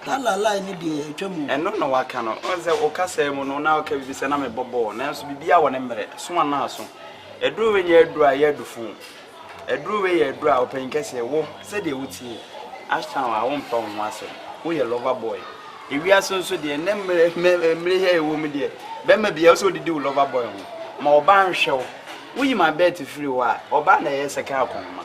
Ka la line no deɛ atwam o. Ɛno na waka no. Wohu sɛ wo kasaa mu no na woka biribi sɛ na mebɔ bɔɔl nanso biribiara wɔ ne mmerɛ. So anaa aso? Aduro wei nyɛ aduro a ɛyɛ adufo o. Aduro wei yɛ aduro a ɔpanyin kɛseɛ wo sɛdeɛ wotie Ashtown a wompa wo ho asɛm. Woyɛ lover boy. Ewiase nso deɛ nnɛ mmerɛ mmerɛ yi a yɛwɔ mu deɛ bɛrima biara wosɛ wodidi wo lover boy ho. Ma ɔbaa nhwɛ wo. Woyi ma bɛɛte firi hɔ a ɔbaa na ɛyɛ second akɔnhoma.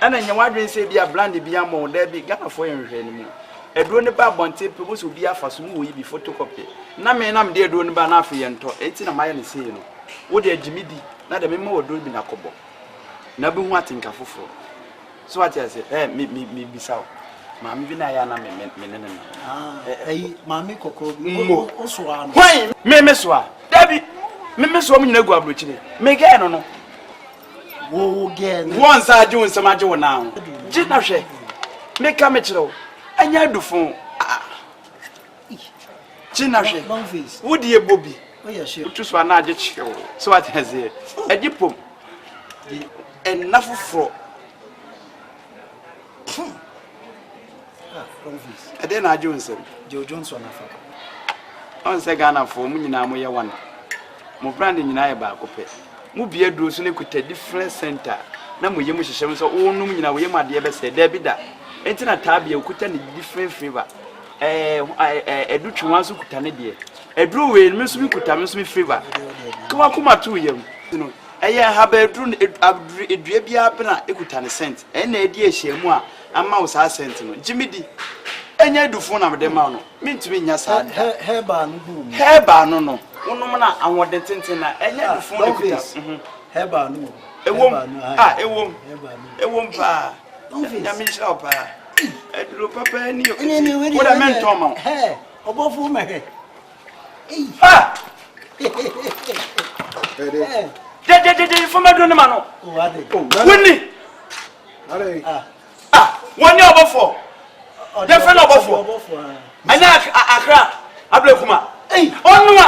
Ɛna nyɛ w'adwene sɛ ebi a blande bi ama wo daabi Ghanafoɔ yɛ nhwehwɛne mu aduro no ba abɔnten pɛ wobɛsɛ obi afa so mu wɔ yi bi photocopy na me na mede aduro no ba na afei yɛntɔ enti na mayɛ no sei no wode agye me di na deɛ mema wɔ aduro bi na kɔbɔ na wobɛhu atenka foforɔ so wate ase ɛ mebisa wo maame bi na ayɛ na me ne ne nam ayi maame kɔkɔɔ bi wosoa no hwan me mesoa dabi me mesoa mu nyina gu aburokyire megɛɛ no no Boa nsa agye wo nsam agye wo nan ho. Gye na hwɛ. Meka mekyerɛ wo, ɛnyɛ adufo. Gye na hwɛ. Wode ɛbɔ bi. Wotu so anaa agye kyerɛ wo. So wate aseɛ. Agye pom. Ɛnna foforɔ. Ɛdɛn na agye wo nsam? Joe Johnson afa. Ɔn sɛ Ghanafoɔ mo nyinaa mo yɛ one. Mo brand nyinaa yɛ baako pɛ. Mo bia duro so na ekuta different center na mo yam hyehyɛ mo sɛ wonom nyinaa wo yam adeɛ bɛsɛ. Daabi da. Enti na taa bia okuta ne different flavor. Ɛɛ ɛɛ ɛdu twe wɔn nso kuta ne deɛ. Aduro wei no me nso me kuta me nso me flavor. Ka wakoma to yam. Ɛyɛ nhabaaduru no abduru dua bi ara pɛn a ekuta ne scent. Ɛno na adi ahyiamu a ama wo saa scent no. Gye me di. Ɛnyɛ adufo na mede ma wo no. Mintumi nnya saa da. Hɛ, herbal no gu wo mu. Herbal no no, wonom no a, ahoɔden tenten na. Ɛnyɛ adufo na ekuta. Ah, Don Face, herbal no wɔ mu. Ɛwom, ah, ɛwom, ɛwom paa. Nyame nhyira wo paa. Aduro papa ni o. Wo de mentɔn ma wo. Hɛ, ɔbɔfo ma hɛ. dɛdɛdɛdɛ nfɔma duro ne ma no wonni wɔne ɔbɔfoɔ yɛfrɛ no ɔbɔfoɔ ɛne akra abrɛkuma ɔnoa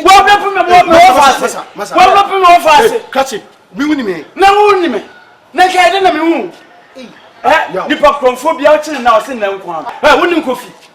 wɔbrɛpo me wɔfa ase wɔbrɛpo me wɔfa ase na wonni me na nka ɛdɛ na mehu nipa korɔmfoɔ bia wokyene na ɔse nnɛ nko a wonim kofi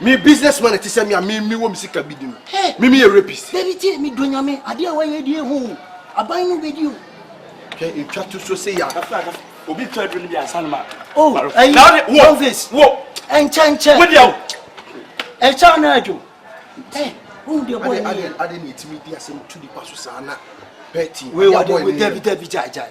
Me business man ɛte sɛ me a me me wɔ me sika bi di no. Me me yɛ rapist. Dabi tie me dɔ nyame adeɛ a wayɛ die ho o. Aban no bɛdi o. Hwɛ ntwa to so se ya. Obi twa aduro no bi ansa no ma. Oh, ayi, Elvis. Wo. Ɛnkyɛ nkyɛ. Wo deɛ o. Ɛkyɛ anaa adwo. Ɛ, wohu deɛ bɔɔ ne yɛ. Ade ne ɛtumi di asɛm tu nipa so saa na. Pɛti. Wei wade, dabi dabi gyae gyae.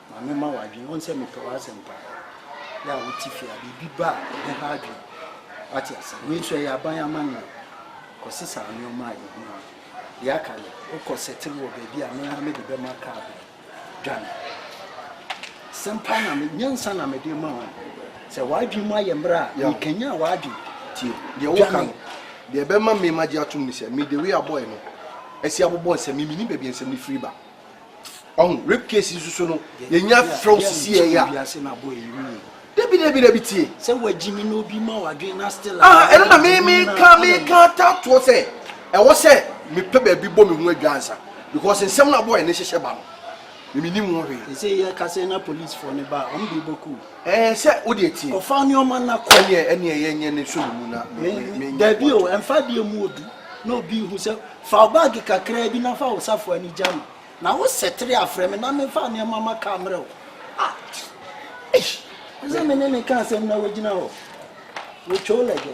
Ma memma w'adwene ho sɛ mepɛ w'asɛm paa. Yɛ a wote fie a, biribi ba a, ɛbɛha adwene. Woate ase? Wei nso, ɛyɛ aban amanneɛ. Kɔsesa nneɛma a ɛho hia. Deɛ aka no, wokɔ sɛtere wɔ baabi a me ara mede bɛma kaa bɛn. Dwane. Asɛm pa na me, nyansa na mede rema wo. Sɛ w'adwene mu ayɛ mmerɛ a, mekanyan w'adwene. Tie deɛ woka no. Deɛ ɛbɛma me magye atom ne sɛ, mede wei abɔeɛ no asi abobɔ nsɛm. Menim baabi a nsɛm no firi ba. ɔho rape case yi soso no yɛnya frɛw sisi yɛ ya dabi dabi dabi tie sɛ wagyi me na obi ma wadwen na still ah ɛno na me me ka me ka tatoɔ sɛ ɛwɔ sɛ mepɛ baabi bɔ me ho adwa ansa because nsɛm no abɔ ɛne hyehyɛ ba no mimini mu hwee. ɛsɛ yɛ kasa na police fɔ ne ba ɔmo de bɔ kuu. ɛɛ sɛ o de etie. ɔfa nneɛma na kɔ. ɛneɛ ɛneɛ yɛ nyɛ ne so ne mu na. dabi o ɛnfa deɛ mu odu. na obi rehu sɛ, Fa wo baage kakraa bi na fa wo safoa no gya me, na wo sɛtere afrɛ me na memfa nneɛma ma ka mmerɛ wo. Ah! Eish! Te sɛ me ne ne ka asɛm na wagyina hɔ. Wɔtwa o lɛgɛ.